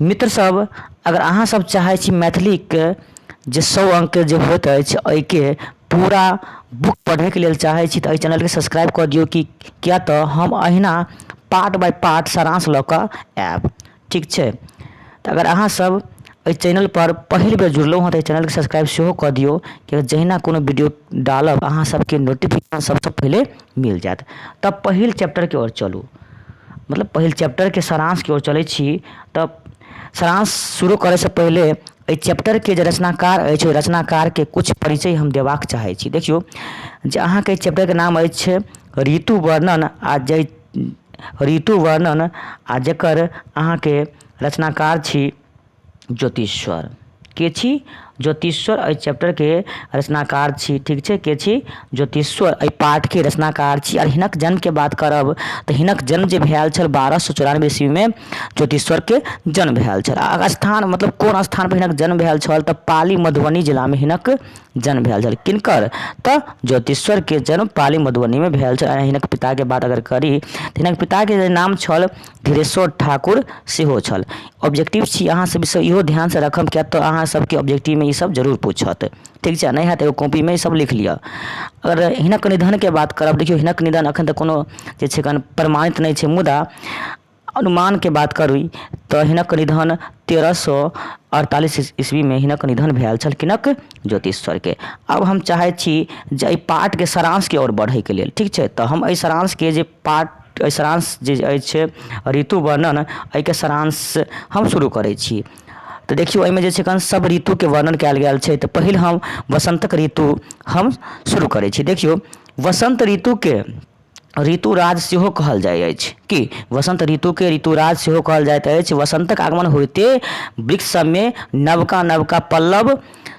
मित्र सब अगर अहाँ सब चाहै छी मैथिली के जे सौ अंक के जे होत अछि एहि के पूरा बुक पढ़े के लेल चाहै छी तऽ एहि चैनल के सब्सक्राइब कऽ दियौ कि किया तऽ हम अहिना पार्ट बाय पार्ट सारांश लऽ कऽ आयब ठीक छै तऽ अगर अहाँ सब एहि चैनल पर पहिल बेर जुड़लहुँ हँ तऽ चैनल के सब्सक्राइब सेहो कऽ दियौ कि जहिना कोनो वीडियो डालब अहाँ सबके नोटिफिकेशन सबसँ पहिले मिल जायत तब पहिल चैप्टरके ओर चलू मतलब पहिल चैप्टरके सारांशके ओर चलै छी तऽ सारांश शुरू करै से पहिले एहि चैप्टरके जे रचनाकार अछि ओहि रचनाकारके किछु परिचय हम देबाक चाहै छी देखियौ जे अहाँके एहि चैप्टरके नाम अछि ऋतु वर्णन आ जे ऋतु वर्णन आ जेकर अहाँके रचनाकार छी ज्योतिश्वर के छी ज्योतिश्वर एहि चैप्टरके रचनाकार छी ठीक छै के छी ज्योतिश्वर एहि पाठके रचनाकार छी आ हिनक जन्मके बात करब तऽ हिनक जन्म जे भेल छल बारह सए चौरानबे ईस्वीमे ज्योतिश्वरके जन्म भेल छल आ स्थान मतलब कोन स्थान पर हिनक जन्म भेल छल तऽ पाली मधुबनी जिलामे हिनक जन्म भेल छल किनकर तऽ ज्योतिश्वरके जन्म पाली मधुबनीमे भेल छल आ हिनक पिताके बात अगर करी तऽ हिनक पिताके जे नाम छल धीरेश्वर ठाकुर सेहो छल ऑब्जेक्टिव छी अहाँ सब ईसब इहो ध्यान से रखब किएक तऽ अहाँ सबके ऑब्जेक्टिव मे ईसब जरूर पूछत ठीक छै नहि होयत एगो कॉपी मे ईसब लिख लिअ अगर हिनक निधन के बात करब देखियौ हिनक निधन अखन तऽ कोनो जे छै अखन प्रमाणित नहि छै मुदा अनुमान के बात करी तऽ हिनक निधन तेरह सए अड़तालीस ईस्वी मे हिनक निधन भेल छल किनक ज्योतिश्वर के आब हम चाहै छी जे एहि पाठ के सारांश के ओर बढ़य के लेल ठीक छै तऽ हम एहि सारांश के जे पाठ अइ सारांश जे अछि ऋतु वर्णन एहिके सारांश हम शुरू करै छी तऽ देखियौ एहिमे जे छै एखन सब ऋतुके वर्णन कयल गेल छै तऽ पहिल हम वसन्तक ऋतु हम शुरू करै छी देखियौ वसन्त ऋतुके ऋतुराज सेहो कहल जाइ अछि कि वसन्त ऋतुके ऋतुराज सेहो कहल जाइत अछि वसन्तक आगमन होइते वृक्ष सबमे नवका नवका पल्लव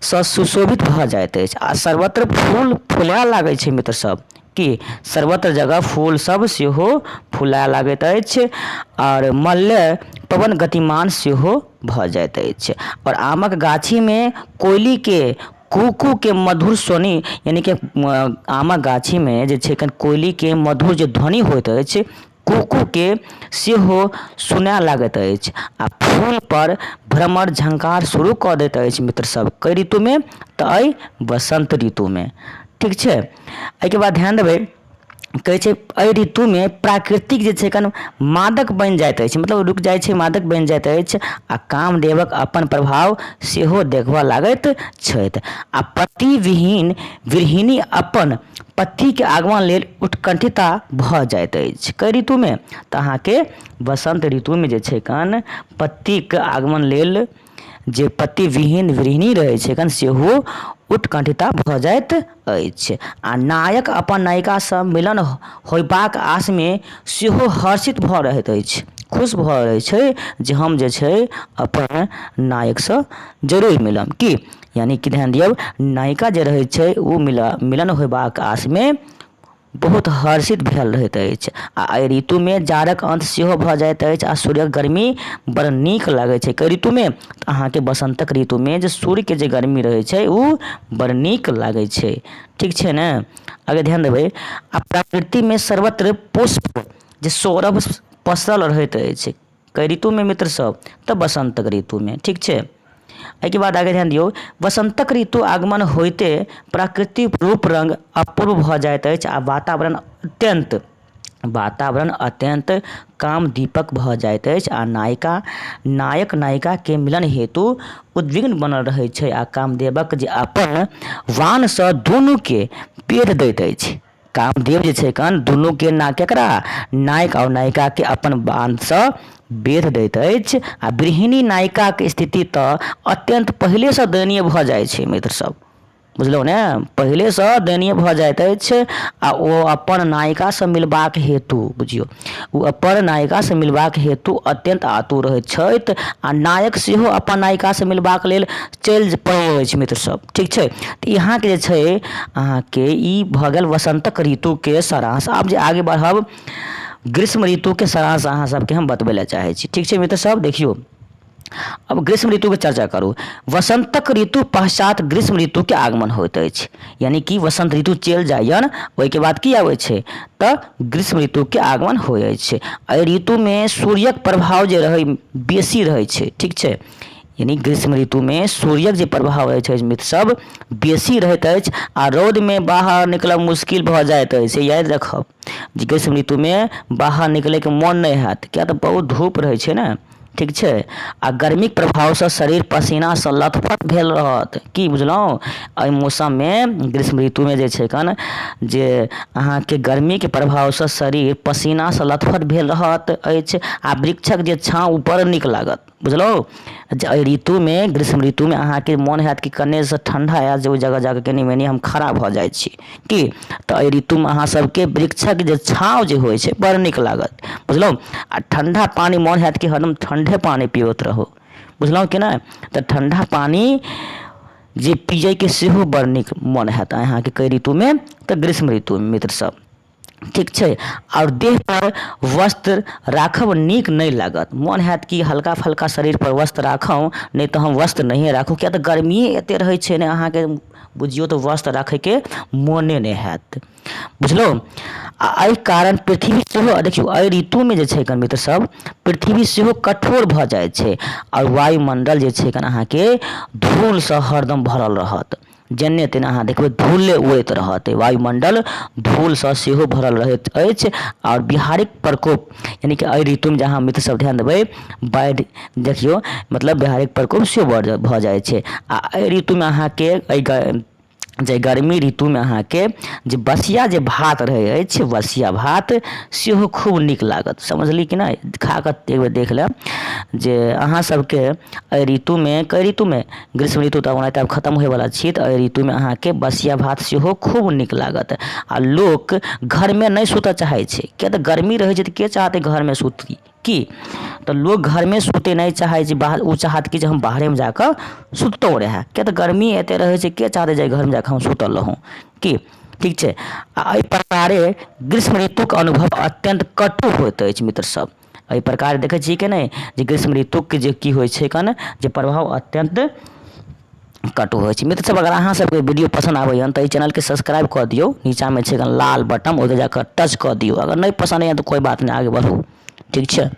सँ सुशोभित भऽ जाइत अछि आ सर्वत्र फूल फुलाय लागै छै मित्र सब कि सर्वत्र जगह फूल सब सेहो फुलाए लागैत अछि आओर मल्ले पवन गतिमान सेहो भऽ जाइत अछि आओर आमक गाछी मे कोयली के कू कू के मधुर स्वनि यानि कि आमक गाछी मे जे छै कोयली के मधुर जे ध्वनि होइत अछि कुक्कूके सेहो सुनए लागैत अछि आ फूल पर भ्रमर झङ्कार शुरू कऽ दैत अछि मित्र सब कइ ऋतुमे तऽ अइ बसन्त ऋतुमे ठीक छै एहिके बाद ध्यान देबै कहै छै एहि ऋतुमे प्राकृतिक जे छै कनि मादक बनि जाइत अछि मतलब रुकि जाइ छै मादक बनि जाइत अछि आ कामदेवक अपन प्रभाव सेहो देखबऽ लागैत छथि आ पति विहीन गृहिणी अपन पत्तीके आगमन लेल उत्कण्ठिता भऽ जाइत अछि कइ ऋतुमे तऽ अहाँके बसन्त ऋतुमे जे छै कन पत्तीके आगमन लेल जे पत्ती विहीन वृहिणी रहै छै कन सेहो उत्कण्ठिता भऽ जाइत अछि आ नायक अपन नायिकासँ मिलन होयबाक आशमे सेहो हर्षित भऽ रहैत अछि खुश भऽ रहै छै जे हम जे छै अपन नायकसँ जरूर मिलब की यानि कि ध्यान दियौ नायिका जे रहैत छै ओ मिल मिलन होयबाक आशमे बहुत हर्षित भेल रहैत अछि आ एहि ऋतुमे जाड़क अन्त सेहो भऽ जाइत अछि आ सूर्यक गर्मी बड़ नीक लागैत छै कै ऋतुमे तऽ अहाँके बसन्तक ऋतुमे जे सूर्यके जे गर्मी रहैत छै ओ बड़ नीक लागैत छै ठीक छै ने अगर ध्यान देबै आ प्रकृतिमे सर्वत्र पुष्प जे सौरभ पसरल रहैत अछि कै ऋतुमे मित्र सब तऽ बसन्तक ऋतुमे ठीक छै एहिके बाद आगे ध्यान दियौ वसन्तक ऋतु आगमन होइते प्राकृतिक रूप रंग अपूर्व भऽ जाइत अछि आ वातावरण अत्यन्त वातावरण अत्यन्त काम दीपक भऽ जाइत अछि आ नायिका नायक नायिका के मिलन हेतु उद्विग्न बनल रहैत छै आ कामदेवक जे अपन वाणसँ दुनूके पेध दैत अछि कामदेव जे छै कन दुनूके ना केकरा नायक आओर नायिकाके अपन बाँधसँ बेध दैत अछि आ गृहिणी नायिकाके स्थिति तऽ अत्यन्त पहिलेसँ दयनीय भऽ जाइत छै मित्र सब बुझलहुँ ने पहिलेसँ दयनीय भऽ जाइत अछि आ ओ अपन नायिकासँ मिलबाक हेतु बुझियौ ओ अपन नायिका से मिलबाक हेतु अत्यन्त आतुर रहैत छथि आ नायक सेहो अपन नायिका से मिलबाक लेल चलि पड़ैत अछि मित्र सब ठीक छै तऽ यहाँके जे छै अहाँके ई भऽ गेल वसन्तक ऋतुके सारांश आब जे आगे बढ़ब ग्रीष्म ऋतुके सारांश अहाँ सबके हम बतबै लए चाहैत छी ठीक छै मित्र सब देखियौ अब ग्रीष्म ऋतुके चर्चा करू वसन्तक ऋतु पश्चात ग्रीष्म ऋतुके आगमन होइत अछि यानि कि वसन्त ऋतु चलि जाइए ओहिके बाद की आबै छै तऽ ग्रीष्म ऋतुके आगमन होइ अछि एहि ऋतुमे सूर्यक प्रभाव जे रहै बेसी रहै छै ठीक छै यानि ग्रीष्म ऋतुमे सूर्यक जे प्रभाव रहै छै मित्रसभ बेसी रहैत अछि आ रौदमे बाहर निकलब मुश्किल भऽ जाइत अछि याद रखब जे ग्रीष्म ऋतुमे बाहर निकलैके मोन नहि हैत किएक तऽ बहुत धूप रहै छै ने ठीक छै आ गर्मीक प्रभावसँ शरीर पसीनासँ लथपथ भेल रहत की बुझलहुँ एहि मौसममे ग्रीष्म ऋतुमे जे छै कन जे अहाँके गर्मीके प्रभावसँ शरीर पसीनासँ लथपथ भेल रहत अछि आ वृक्षक जे छाँह ओ बड़ नीक लागत बुझलहुँ जे एहि ऋतुमे ग्रीष्म ऋतुमे अहाँके मोन होयत कि कनेसँ ठण्डा आयल जाय ओहि जगह जाके कनी मनी हम खड़ा भऽ जाइ छी की तऽ एहि ऋतुमे अहाँ सबके वृक्षक जे छाँव जे होइ छै बड़ नीक लागत बुझलहुॅं आ ठंडा पानि मन होयत कि हरदम ठंडे पानि पीबैत रहू बुझलहुॅं कि नहि तऽ ठंडा पानि जे पियैके सेहो बड़ नीक मन होयत अहाँके कै ऋतुमे तऽ ग्रीष्म ऋतुमे मित्र सब ठीक छै आओर देह पर वस्त्र राखब नीक नहि लागत मोन होयत कि हल्का फल्का शरीर पर वस्त्र राखू नहि तऽ हम वस्त्र नहिये राखू किए तऽ गर्मीये एते रहै छै ने अहाँके बुझियौ तऽ वस्त्र राखैके मोने नहि होयत बुझलहुॅं आ एहि कारण पृथ्वी सेहो देखियौ एहि ऋतुमे जे छै मित्र सब पृथ्वी सेहो कठोर भऽ जाइ छै आओर वायुमंडल जे छै अहाँके धूल सऽ हरदम भरल रहत जेन्ने तेन्ने अहाँ देखबै धूले उड़ैत रहत वायुमंडल धूलसँ सेहो भरल रहैत अछि आओर बिहारिक प्रकोप यानि कि एहि ऋतुमे जे अहाँ मित्र सब ध्यान देबै बाढ़ि देखियौ मतलब बिहारिक प्रकोप सेहो बढ़ि भऽ जाइ छै आ एहि ऋतुमे अहाँके एहि ग जे गर्मी ऋतुमे अहाँके जे बसिया जे भात रहै अछि बसिया भात सेहो खूब नीक लागत समझली कि नहि खा कऽ एक बेर देख लेब जे अहाँ सबके एहि ऋतुमे कै ऋतुमे ग्रीष्म ऋतु तऽ ओनाहिते आब खतम होइवला छी तऽ एहि ऋतुमे अहाँके बसिया भात सेहो खूब नीक लागत आ लोक घरमे नहि सुतऽ चाहै छै किए तऽ गर्मी रहै छै तऽ के चाहतै घरमे सुती की तऽ लोक घरमे सुतै नहि चाहै छै बाहर ओ चाहत कि जे हम बाहरेमे जा कऽ सुततौ रहए किए तऽ गर्मी एते रहै छै के चाहतै जे घरमे जा कऽ हम सुतल रहूँ की ठीक छै आ एहि प्रकारे ग्रीष्म ऋतुके अनुभव अत्यन्त कटु होइत अछि मित्र सब एहि प्रकार देखै छियै कि नहि जे ग्रीष्म ऋतुके जे की होइ छै कन जे प्रभाव अत्यन्त कटु होइ छै मित्र सब अगर अहाँ सबके वीडियो पसन्द आबैया तऽ एहि चैनलके सब्सक्राइब कऽ दियौ नीचाँमे छै एगो लाल बटम ओहिके जाकऽ टच कऽ दियौ अगर नहि पसन्द अइ तऽ कोइ बात नहि आगे बढ़ू ठीक छै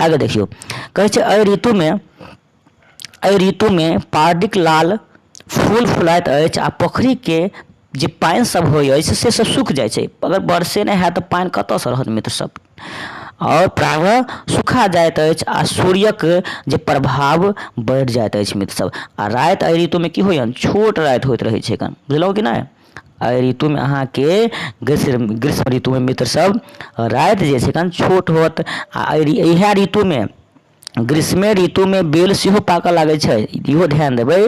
आगे देखियौ कहै छै एहि ऋतुमे एहि ऋतुमे पार्डिक लाल फूल फुलाइत अछि आ पोखरिके जे पानि सब होइ अछि से सब सुखि जाइ छै अगर बरसे नहि होयत तऽ पानि कतऽसँ रहत मित्र सब आओर प्रायः सुखा जाइत अछि आ सूर्यक जे प्रभाव बढ़ि जाइत अछि मित्र सब आ राति एहि ऋतुमे की होइया छोट राति होइत रहै छै कन बुझलहुँ कि नहि एहि ऋतुमे अहाँके ग्रीष्म ग्रीष्म ऋतुमे मित्र सब राति जे छै कन छोट होयत आ इएह ऋतुमे ग्रीष्मे ऋतुमे बेल सेहो पाकऽ लागै छै इहो ध्यान देबै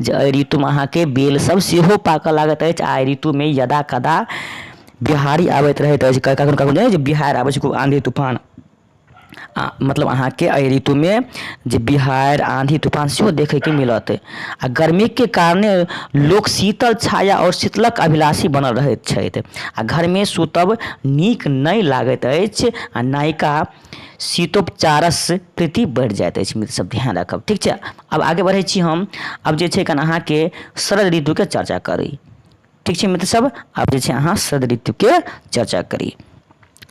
जे एहि ऋतुमे अहाँके बेल सब सेहो पाकऽ लागैत अछि आ एहि ऋतुमे यदा कदा बिहारि आबैत रहैत अछि कखनो कखनो नहि होइ छै बिहारि आबै छै खूब आँधी तूफान आ मतलब अहाँके एहि ऋतुमे जे बिहारि आँधी तूफान सेहो देखैके मिलत आ गर्मीके कारणे लोक शीतल छाया आओर शीतलक अभिलाषी बनल रहैत छथि आ घरमे सुतब नीक नहि लागैत अछि आ नयका शीतोपचारसँ प्रीति बढ़ि जाइत अछि मित्र सब ध्यान राखब ठीक छै आब आगे बढ़ै छी हम आब जे छै कन अहाँके शरद ऋतुके चर्चा करी ठीक छै मित्र सब आब जे छै अहाँ शरद ऋतुके चर्चा करी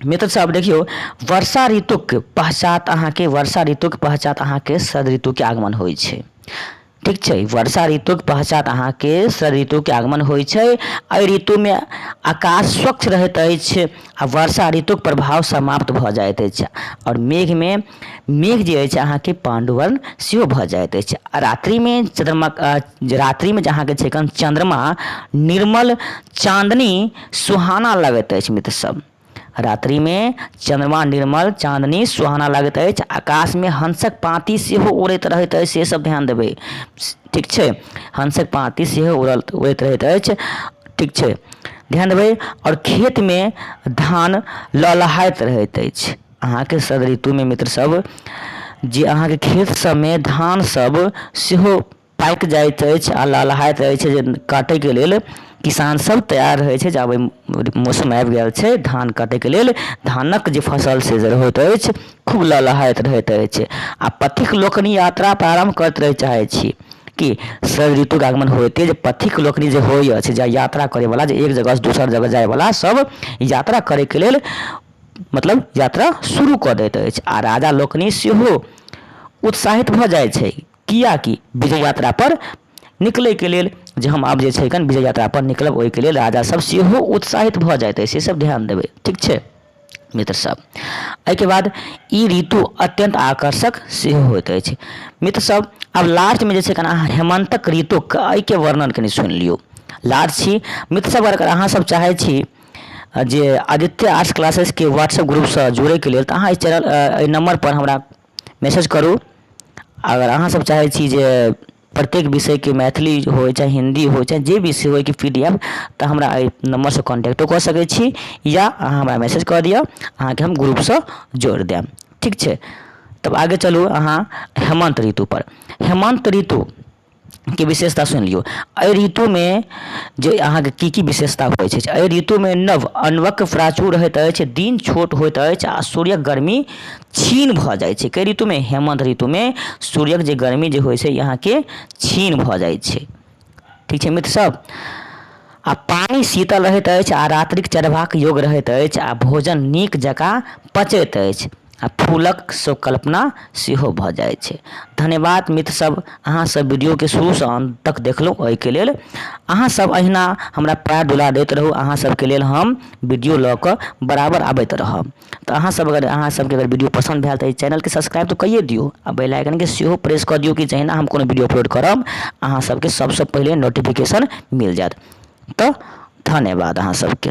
मित्र सब देखियो वर्षा ऋतुक पश्चात अहाँके वर्षा ऋतुक पश्चात अहाँके शरद ऋतुके आगमन होइ छै ठीक छै वर्षा ऋतुक पश्चात अहाँके शरद ऋतुके आगमन होइ छै एहि ऋतुमे आकाश स्वच्छ रहैत अछि आ वर्षा ऋतुक प्रभाव समाप्त भऽ जाइत अछि आओर मेघमे मेघ जे अछि अहाँके पाण्डुवर्ण सेहो भऽ जाइत अछि आ रात्रिमे चन्द्रमा रात्रिमे जे अहाँके छै चन्द्रमा निर्मल चाँदनी सुहाना लगैत अछि मित्र सब रात्रिमे चन्द्रमा निर्मल चाँदनी सुहाना लागैत अछि आकाशमे हंसक पाँति सेहो उड़ैत रहैत अछि से सब ध्यान देबै ठीक छै हंसक पाँति सेहो उड़ल उड़ैत रहैत अछि ठीक छै ध्यान देबै आओर खेतमे धान लहलहाइत रहैत अछि अहाँके शरद ऋतुमे मित्र सब जे अहाँके खेत सबमे धान सब सेहो पाकि जाइत अछि आ लहलहाइत अछि जे काटैके लेल किसान सब तैयार रहै छै जे आब मौसम आबि गेल छै धान काटैके लेल धानक जे फसल से होइत अछि खूब लहलहाइत रहैत अछि आ पथिक लोकनि यात्रा प्रारम्भ करैत रहै चाहै छी कि शरद ऋतुके आगमन होइते जे पथिक लोकनि जे होइ अछि जे यात्रा करैवला जे एक जगहसँ दोसर जगह जाइवला सब यात्रा करैके लेल मतलब यात्रा शुरू कऽ दैत अछि आ राजा लोकनि सेहो उत्साहित भऽ जाइ छै किएकि विजय यात्रा पर निकलैके लेल जे हम आब जे छै अखन विजय यात्रा पर निकलब ओहिके लेल राजा सब सेहो उत्साहित भऽ जाइत अछि से सब ध्यान देबै ठीक छै मित्र सब एहिके बाद ई ऋतु अत्यंत आकर्षक सेहो होइत अछि मित्र सब आब लास्टमे जे छै अखन अहाँ हेमंतक ऋतुक एहिके वर्णन कनि सुनि लियौ लाज छी मित्र सब अगर अहाँ सब चाहै छी जे आदित्य आर्ट्स क्लासेसके व्हाट्सएप ग्रुपसँ जुड़ैके लेल तऽ अहाँ एहि चैनल एहि नम्बर पर हमरा मैसेज करू अगर अहाँ सब चाहै छी जे प्रत्येक विषयके मैथिली होइ चाहे हिन्दी होइ चाहे जे भी सेहो होइके पी डी एफ तऽ हमरा अइ नम्बर सँ कॉन्टैक्टो कऽ सकै छी या अहाँ हमरा मैसेज कऽ दिअ अहाँके हम ग्रुपसँ जोड़ि देब ठीक छै तब आगे चलू अहाँ हेमन्त ऋतुपर हेमन्त ऋतु के विशेषता सुनि लियौ एहि ऋतुमे जे अहाँके की की विशेषता होइ छै एहि ऋतुमे नव अनवक प्राचुर होइत अछि दिन छोट होइत अछि आ सूर्यक गर्मी छीन भऽ जाइ छै कइ ऋतुमे हेमन्त ऋतुमे सूर्यक जे गर्मी जे होइ छै अहाँके छीन भऽ जाइ छै ठीक छै मित्र सब आ पानि शीतल रहैत अछि आ रात्रिक चढ़बाक योग रहैत अछि आ भोजन नीक जकाँ पचैत अछि आ फूलक से कल्पना सेहो भऽ जाइ छै धन्यवाद मित्र सब अहाँ सब वीडियो के शुरू सऽ अंत तक देखलहुॅं ओहिके लेल अहाँ सब अहिना हमरा प्यार दुलार दैत रहू अहाँ सबके लेल हम वीडियो लऽ कऽ बराबर आबैत रहब तऽ अहाँ सब अगर अहाँ सबके अगर वीडियो पसन्द भेल तऽ एहि चैनल के सब्सक्राइब तऽ कइये दियौ आ बेल आइकन के सेहो प्रेस कऽ दियौ कि जहिना हम कोनो वीडियो अपलोड करब अहाँ सबके सबसे पहिले नोटिफिकेशन मिल जायत तऽ धन्यवाद अहाँ सबके